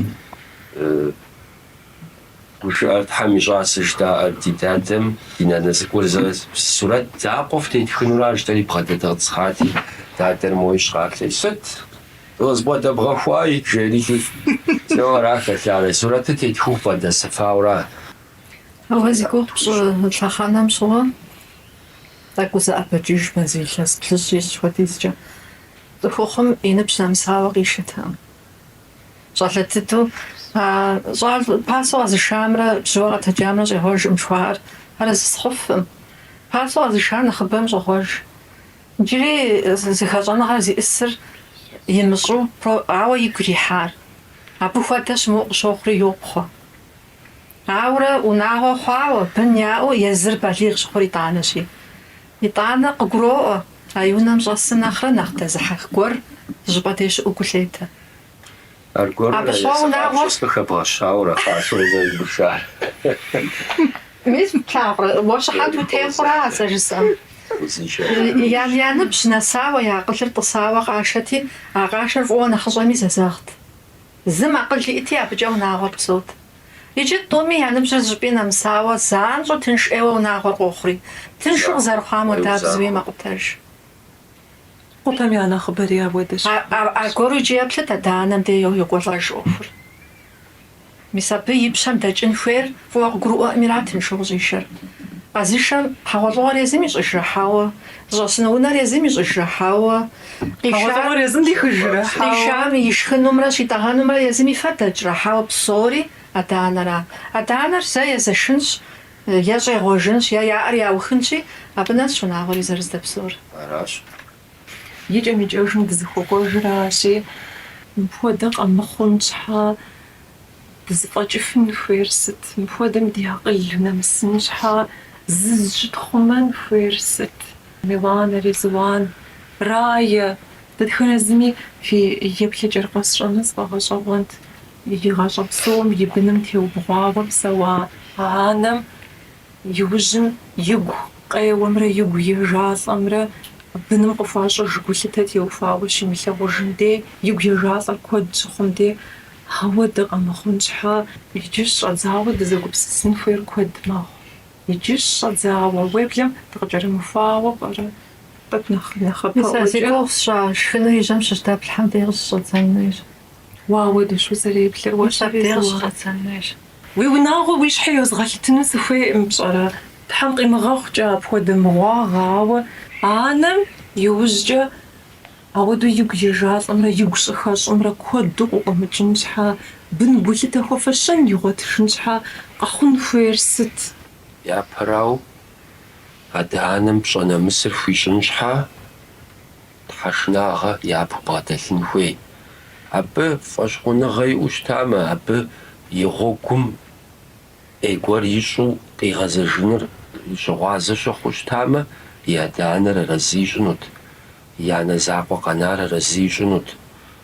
гушыӏэр Тхьэм и щӏасэ жыдаӏэр ди дадэм, ди нанэ цӏыкӏур зэ сурэт закъуэ фтетхынура жытӏэри бгъэдэдгъэтӏысхьати, дадэр моищ къалъи, Сыт? Къызбгъэдэбгъэхуаи, жеинкӏи зэу ара хэлъар, сурэтыр тетхыу бгъэдэсыфауэра? Ауэ зи гугъу пщӏы лъэхъэнэм щыгъуэ тӏэкӏу узэӏэбэкӏыжмэ, зы илъэс блыщӏ-ищӏ хуэдизкӏэ, цӏыхухъум и ныбжь нэмысауэ къишэтэкъым. Щӏалэ дыдэу а щӏал пасэу къэзышамрэ жьыуэ къэтэджамрэ щӏегъуэжкъым жыхуаӏэр арэзы сыхъуфӏым. Пасэу къэзыша нэхъыбэм щӏогъуэж. Иджыри зыхэщӏэныгъэр зиӏысыр имыщӏу япэу ауэ игу ирихьар. Абы хуэдэ щымыӏэу къыщохъури йопхъуэ. Ауэрэ унагъуэ хъуауэ, бын яӏэу езыр балигъ щыхъур итӏанэщи. Итӏанэ къыгуроӏуэ а и унэм щӏэсым нэхърэ нэхъ дэзыхьэх гуэр зыщӏыпӏэ деж щыӏэу гу лъетэ. Аргуэру Абы щыгъуэ унагъуэр- Езыгъащӏэщ къыхэбгъэщауэ рафаэлу зэрызгушар. Мис плъагъурэ, уэ щыхьэт утехъура а сэ жысӏэм? Узыншэжа? Я я ныбжь нэсауэ, я акъылыр тӏысауэ къашэти, а къашэр фӏыуэ нэхъыщӏэми зэзэгът. Зым акъыл иӏти, абыкӏэ унагъуэр псэут. Иджы тӏуми я ныбжьыр зыщӏыпӏи нэмысауэ, занщӏэу тынш ӏейуэ унагъуэр къохъури, тыншу къызэрыхъуам хуэдабзэуи мэкъутэж. Къутэм я нэхъыбэри апхуэдэщ. Аргуэру иджы еплъыт адэ-анэм де йокӏуэлӏэж ӏуэхур. Мис абы и пщэм дэкӏын хуейр фӏыуэ къыгурыӏуэкъыми ара тыншу къыщӏишэр. Къэзышэм хьэгъуэлӏыгъуэр езым ищӏыжыхьауэ, зыщӏэсыну унэр езым ищӏыжыхьауэ, къишам и шхынумрэ щитӏэгъэнумрэ езым и фэ дэкӏрыхьауэ псори адэ-анэра. Адэ-анэр зэ езэшынщ. Е щӏегъуэжынщ, е яӏэр яухынщи, абы нэсщ унагъуэри зэрыздэпсэур. Аращ. Икӏэм-икӏэжым дызыхуэкӏуэжращи, мыпхуэдэ къэмыхъун щхьэ дызыфӏэкӏыфын хуейр сыт? Мыпхуэдэм ди акъыл нэмысын щхьэ зызыщытхъумэн хуейр сыт? Миланэ, Резуан, Рае, дэтхэнэ зыми фи еплъыкӏэр къэсщӏэну сфӏэгъэщӏэгъуэнт. И гъащӏэ псом и быным теубгъуауэ псэуа а анэм и ужьым игу къеуэмрэ игу ежалӏэмрэ быным къыхуащӏэж гулъытэ теухуауэ щимылъагъужым дей, игу ежалӏэр куэд щыхъум дей. Ауэдэ къэмыхъун щхьэ, иджы щӏэдзауэ дызэгупсысын хуейр куэд мэхъу. Иджы щӏэдзауэ уеблэм дыкъыкӏэрымыхуауэ пӏэрэ? Тӏэкӏу нэхъ нэхъапэӏуэкӏэ. Сэ си гугъущ а шхыныр и жьэм щыжьэдэплъхьэм дей къыщыщӏэдзэн хуейр. Уауэ, дыщ узэреплъыр уэ иджы, Резуан? Уи унагъуэ уи щхьэ йозгъэлъытыну сыхуейкъым пщӏэрэ? Тхьэм къимыгъэхъукӏэ апхуэдэ мыгъуагъэ, ауэ анэм иужькӏэ ауэдэу игу ежалӏэмрэ игу щӏыхэщӏымрэ куэду къыкъуэмыкӏын щхьэ, бын гулъытэ хуэфэщэн игъуэтыжын щхьэ къэхъун хуейр сыт? Япэрауэ, адэ-анэм пщӏэ-нэмысыр хуищӏын щхьэ? тхьэшынагъэ япэу бгъэдэлъын хуей. Абы фӏэщхъуныгъэ иӏэу щытамэ, абы и гъуэгум ӏей гуэр ищӏу къигъэзэжыныр щыгъуазэ щыхъуу щытамэ, и адэ-анэр арэзы ищӏынут, и анэ закъуэ къэнар арэзы ищӏынут,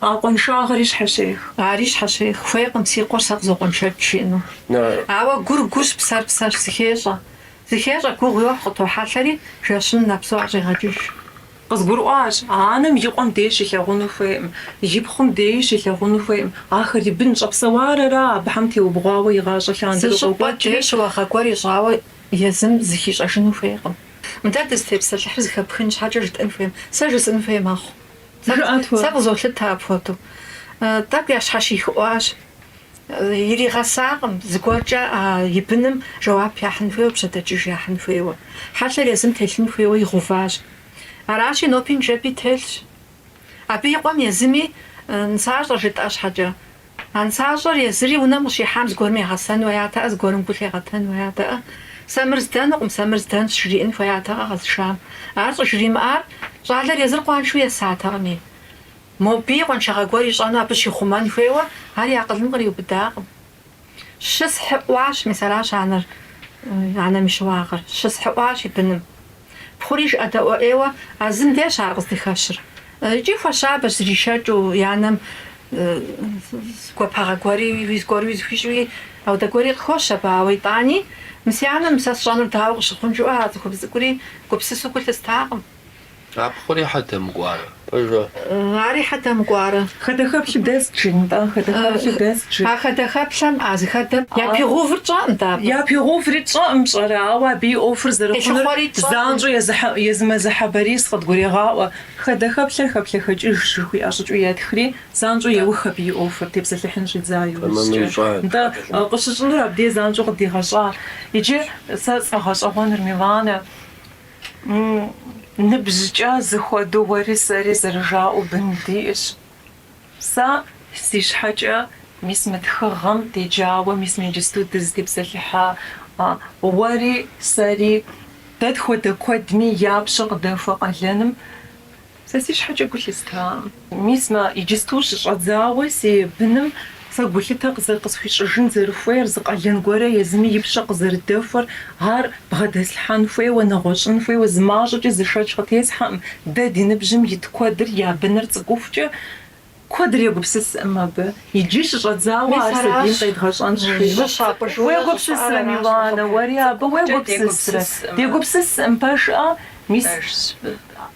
А къуаншагъэри щхьэщех. Ари щхьэщех. Хуейкъым си къуэр сэ къызокъуэншэкӏ жиӏэну. Ауэ гур гущ, псэр псэщ, зыхещӏэ. Зыхещӏэ, гугъу йохь, къытохьэлъэри, жэщым нэпсу ар щӏегъэкӏыж. Къызгурыӏуащ, анэм и къуэм деж щилъагъуну хуейкъым, и пхъум деж щилъагъуну хуейкъым, ахэр и бын щӏэпсэуар ара, абыхэм теубгъуауэ игъащӏэ лъандэрэ къокӏуэкӏри. Зы щӏыпӏэ деж щыуагъэ гуэр ищӏауэ езым зыхищӏэжыну хуейкъым. Мыдэ дызытепсэлъыхьыр зыхэпхын щхьэкӏэ жытӏэн хуейм, сэ жысӏын хуей мэхъу. Сэ къызолъытэ апхуэдэу. Тӏэкӏу ящхьэщихыӏуащ. Иригъэсакъым, зыгуэркӏэ а и быным жэуап яхьын хуейуэ, пщэдэкӏыж яхьын хуейуэ. Хьэлъэр езым телъын хуейуэ игъуващ. Аращи, ноби ныджэби телъщ. Абы и къуэм езыми, нысащӏэ жытӏа щхьэкӏэ, А нысащӏэр езыри унэм къыщихьам зыгуэрым егъэсэн уеятэӏэ, зыгуэрым гу лъегъэтэн уеятэӏэ. Сэ мыр здэнукъым, сэ мыр здэнщ жриӏын хуеятэкъэ къэзышам. Ар щӏыжримыӏар, щӏалэр езыр къуаншэу есатэкъыми. Моби къуаншагъэ гуэр ищӏэну абы щихъумэн хуейуэ ар и акъылым къриубыдакъым. Щысхьыӏуащ, мис аращ анэр анэм и щыуагъэр, щысхьыӏуащ и быным. Пхъури жыӏэдэӏуэ ӏейуэ, А зым дещ ар къыздыхэщыр. Икӏи хуэщабэщ зришэкӏыу и анэм гуапагъэ гуэри, уиз гуэри узыхуищӏуи, ауэдэ гуэри къыхощ абы. Ауэ итӏани, Мы си анэм сэ сщӏэнур дауэ къыщыхъун жыӏуэ а цӏыхубз цӏыкӏури гупсысу гу лъыстакъым. А пхъури щхьэ дэмыкӏуарэ? пэжу. Ари щхьэ дэмыкӏуарэ. Хэдэхэплъу дэст жи-нтӏэ, хэдэхэплъу дэст жи. А хэдэхэплъэм а зыхэдэм япигъувыр тщӏэӏым дэ абы? Япигъуври тщӏэӏым пщӏэрэ, ауэ абы и ӏуэхур зэрыхъунур Къилъыхъуэри тщӏэӏым. Занщӏэу езы Мэзыхьэ Борис къыдгурегъаӏуэ, хэдэхэплъэр хэплъэхэкӏыж жыхуиӏэ щӏыкӏэу етхри, занщӏэу еух абы и ӏуэхур, тепсэлъыхьын щӏидза иужькӏэ. Нтӏэ, къыщыщӏынур абдей занщӏэу къыдигъэщӏа. Иджы сэ сфӏэгъэщӏэгъуэныр, Миланэ. Ныбжькӏэ зыхуэдэу уэри сэри зэрыжаӏэу бын диӏэщ. Сэ си щхьэкӏэ мис мы тхыгъэм деджауэ, мис мы иджысту дызытепсэлъыхьа уэри сэри, дэ тхуэдэ куэдми я пщэ къыдэхуэ къалэным, Сэ си щхьэкӏэ гу лъыстакъым. Мис иджысту щыщӏэдзауэ си быным сэ гулъытэ къызэрыкъысхуищӏыжын зэрыхуейр, зы къалэн гуэрэ езыми и пщэ къызэрыдэхуэр, ар бгъэдэслъхьэн хуейуэ, нэгъуэщӏын хуейуэ зы мащӏэкӏэ зы шэч къытесхьэӏым. Дэ ди ныбжьым ит куэдыр я быныр цӏыкӏухукӏэ куэдыр егупсысӏым абы. Иджы щыщӏэдзауэ ар сабийм къедгъэщӏэнщ жиӏэщ. Уегупсысрэ, Миланэ, уэри абы уегупсысрэ? Дегупсысӏым, пэжӏэ? Мис.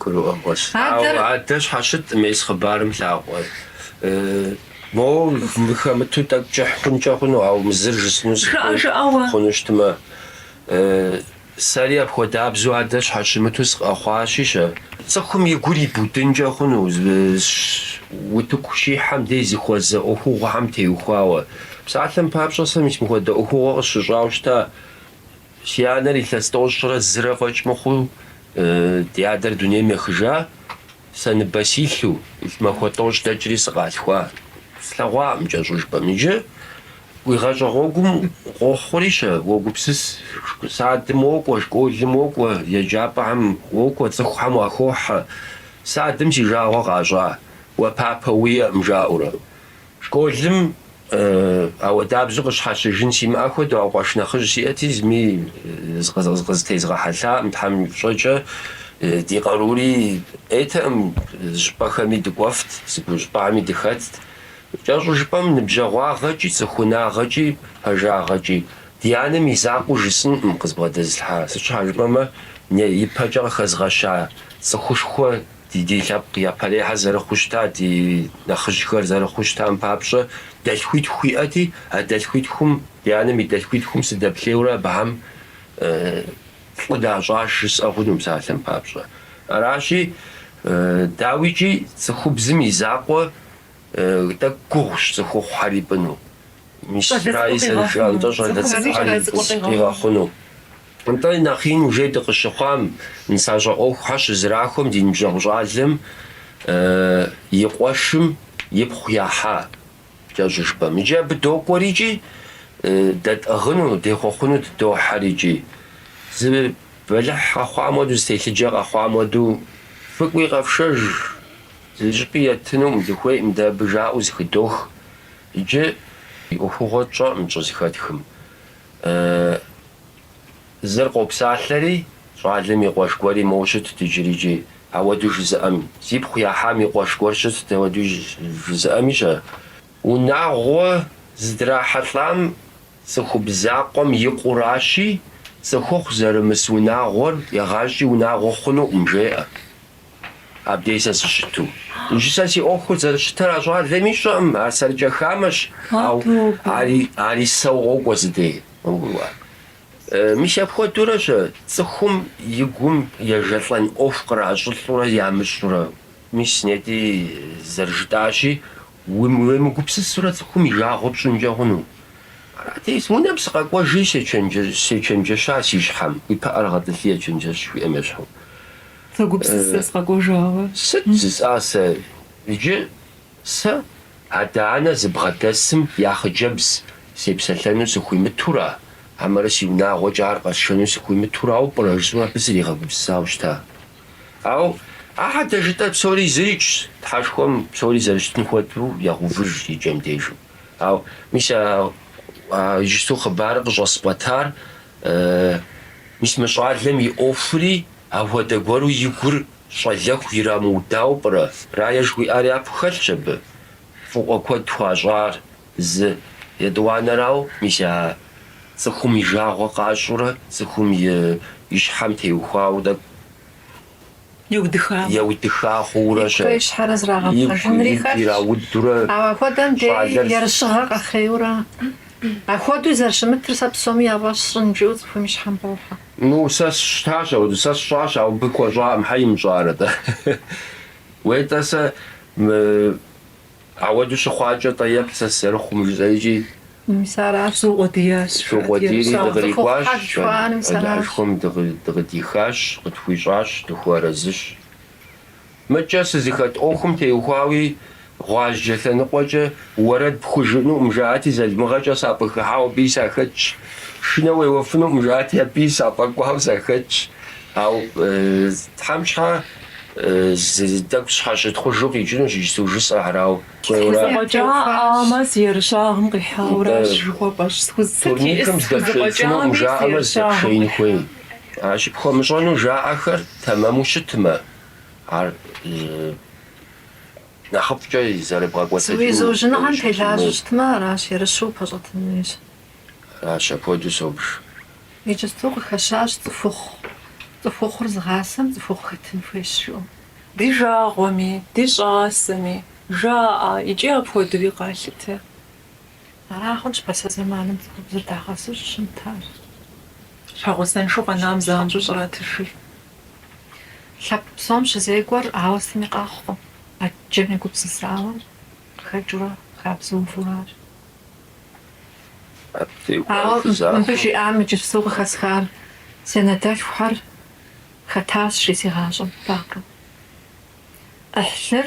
Гурыӏуэгъуэщ. Ауэ адэ щхьэщыт мес хъыбарым лъакъуэр? Моуэ мыхэмыту тӏэкӏу кӏыхь хъункӏэ хъуну, ауэ мы зыр жысӏэну сыхуей хъуну щытмэ. Сэри апхуэдабзэу адэ щхьэщымыту сыкъэхъуащи, щэ. Цӏыхум и гур ибудынкӏэ хъуну, утыку щихьэм дей зыхуэзэ ӏуэхугъуэхэм теухуауэ. Псалъэм папщӏэ, сэ мис мыхуэдэ ӏуэхугъуэ къысщыщӏауэ щыта, Си анэр илъэс тӏощӏрэ зырэ фӏэкӏ мыхъуу ди адэр дунейм ехыжа, сэ ныбэ силъу, махуэ тӏощӏ дэкӏри сыкъалъхуа. Слъэгъуаӏым кӏэщӏу жыпӏэм. Иджы уи гъащӏэ гъуэгум къохъури-щэ, уогупсыс, садым уокӏуэ, школым уокӏуэ, еджапӏэхэм уокӏуэ, цӏыхухэм уахохьэ. Садым си жагъуэ къащӏа, Уэ папэ уиӏэӏым, жаӏэурэ. Школым ауэдабзэу къысщхьэщыжын симыӏэ хуэдэу, ауэ къуэш нэхъыжь сиӏэти, зыми къызытезгъэхьэлъаӏым, Тхьэм и фӏыщӏэкӏэ ди къарури ӏейтэӏым, зыщӏыпӏэхэми дыкӏуэфт, зыгущӏыпӏами дыхэтт. Кӏэщӏу жыпӏэм, ныбжьэгъуагъэкӏи, цӏыхунагъэкӏи, пэжагъэкӏи. Ди анэм и закъуэу жысӏэнкъым къызбгъэдэзылъхьа, сыт щхьа жыпӏэмэ, ипэкӏэ къыхэзгъэща цӏыхушхуэ. Ди лъэпкъ япэрейхэр зэрыхъуу щыта, ди нэхъыжьхэр зэрыхъуу щытам папщӏэ, дэлъхуитху иӏэти, а дэлъхуитхум, ди анэм и дэлъхуитхум сыдэплъейурэ абыхэм лӏы дащӏащ жысӏэ хъуну псалъэм папщӏэ. Аращи, дауикӏи, цӏыхубзым и закъуэ Тӏэкӏу гугъущ цӏыхухъухьэр ипӏыну. Мис Раисэ жиӏэнкӏэ щӏалэ цӏыкӏухэр къигъэхъуну. Нтӏэ, нэхъ ин уже дыкъыщыхъуам, нысащӏэ ӏуэхухэр щызэрахуэм ди ныбжьэгъу щӏалэм и къуэшым ипхъу яхьа кӏэщӏу жыпӏэм. Иджы абы докӏуэр икӏи дэтӏыгъыну, дехъуэхъуну дыдохьэр икӏи. Зы бэлыхь къэхъуам хуэдэу, зы телъыджэ къэхъуам хуэдэу фыкӏуи къэфшэж. Зыщӏыпӏи еттынуӏым, дыхуейӏым дэ абы жаӏэу зыхыдох иджы и ӏуэхугъуэ тщӏэӏым щӏызыхэтхым. Зыр къопсалъэри, щӏалэм и къуэш гуэри моуэ щытт иджырики, ауэдэу жызыӏэм. Зипхъу яхьам и къуэш гуэр щытт ауэдэу жызыӏэми щэ. Унагъуэ зыдрахьэлӏам цӏыхубз закъуэм и къуращи, цӏыхухъу зэрымыс унагъуэр егъащӏи унагъуэ хъунуӏым, жеӏэ. Абдей сэ сыщыту. Иджы сэ си ӏуэхур зэрыщытыр а щӏалэм ищӏэӏым, ар сэрыкӏэ хамэщ, ауэ ари, ари сэу къокӏуэ зыдей. Мис апхуэдэурэщ цӏыхум и гум ежэлӏэн ӏуэху къращӏылӏурэ ямыщӏурэ. Мис нети зэрыжытӏащи, уемыгупсысурэ цӏыхум и жагъуэ пщӏынкӏэ хъуну. Арати, унэм сыкъэкӏуэжи, сечэнджэща си щхьэм, уи пыӏэр гъэтӏылъи ечэнджэщ, жыхуиӏэм ещхьу. Сэ гупсысэ сыкъэкӏуэжауэ. Сыт зысӏа сэ иджы? Сэ адэ-анэ зыбгъэдэсым я хъыджэбз сепсэлъэну сыхуимытура, хьэмэрэ си унагъуэкӏэ ар къэсшэну сыхуимытурауэ пӏэрэ? жысӏэу абы сригъэгупсысауэ щыта. Ауэ ахьэр дэ жытӏэр псори зырикӏщ, Тхьэшхуэм псори зэрыщытын хуэдэу егъэувыж и кӏэм дежым. Ауэ мис а иджыпсту хъыбарыр къыщӏэсӏуэтар мис мы щӏалэм и ӏуэхури Апхуэдэ гуэру и гур щӏалэху ирамыудауэ пӏэрэ? Рае жыхуиӏар япэ хэлъщ абы фӏыӏуэ куэд хуащӏар зы етӏуанэрау, мис а цӏыхум и жагъуэ къащӏурэ цӏыхум и щхьэм теухуауэ тӏэкӏу еудыха хъуурэ щэ, игу ираудурэ щӏалэр зыщӏ. Ну, сэ сыщытащ ауэду, сэ сщӏащ, ауэ абы хуэщӏакъым, хьэ имыщӏарэ-тӏэ? Уей-тӏэ сэ ауэду щыхъуакӏэ-тӏэ еплъ сэ сызэрыхъум, жысӏэ икӏи. Мис аращ, сукъуэдиящ. Сукъуэдийри дыкърикӏуащ, Тхьэшхуэм дыкъыдихащ, къытхуищӏащ, дыхуэарэзыщ. Мыкӏэ сызыхэт ӏуэхум теухуауи, гъуазджэ лъэныкъуэкӏэ уэрэд пхужыӏэнукъым, жаӏати, залымыгъэкӏэ сапӏыхыхьау абыи сахэтщ. Пшынэ уеуэфынукъым, жаӏати, абыи сапӏэкӏуау сахэтщ. Ауэ Тхьэм щхьэ тӏэкӏу сщхьэщытхъужу къикӏынущ иджысту жысӏэ арауэ. Схузэфӏэкӏаӏамэ, си ерыщагъым къихьауращ жыхуэпӏэщ. Турникым зыдэпшеифынукъым жаӏэмэ, зыдэпшеин хуей. Ащ пхуэмыщӏэну жаӏэхэр тэмэму щытмэ. Ар нэхъыфӏкӏэ зэрыбгъэкӏуэтэжыну. Зы уи зыужьыныгъэм телажьэу щытмэ, аращ, ерыщу пэщӏэтын хуейщ. Аращ, апхуэдэу собж. Иджысту къыхэщащ цӏыхухъу. Цӏыхухъур зыгъасэм цӏыхухъу хэтын хуейщ, жиӏэу. Ди жагъуэми, ди щӏасэми, жаӏэ икӏи апхуэдэуи къалъытэ. Ара хъунщ пасэ зэманым цӏыхубзыр дагъэсу щӏыщымытар. Щхьэгъусэншэу къэнам занщӏэу щӏратыжыр. Лъэпкъ псом щызекӏуэр ауэ сытми къэхъукъым, ӏэджэм егупсысауэ къыхэкӏыурэ хабзэ уву аращ. Ауэ мыбы жиӏам иджыпсту къыхэсхар си анэ дэлъхухэр хэтащ, жи си гъащӏэм вакъэм. ӏыхьлыр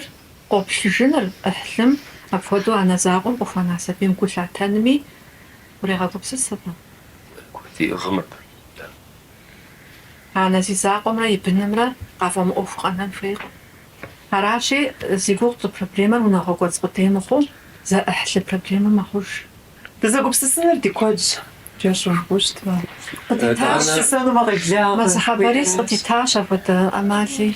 къоплъыжыныр, ӏыхьлым апхуэдэу анэ закъуэм къыхуэна сабийм гу лъатэнми урегъэгупсысыркъым. Гу диӏыгъым абы Анэ зи закъуэмрэ и бынымрэ къафӏэмыӏуэху къэнэн хуейкъым. Аращи, зи гугъу тщӏы проблемэр унагъуэ кӏуэцӏ къудей мыхъуу, зэӏыхьлы проблемэ мэхъуж. Дызэгупсысыныр ди куэдщ, джащ умыгугъущтмэ. Къыдитащ. Мэзыхьэ Бариси къыдитащ апхуэдэ ӏэмали.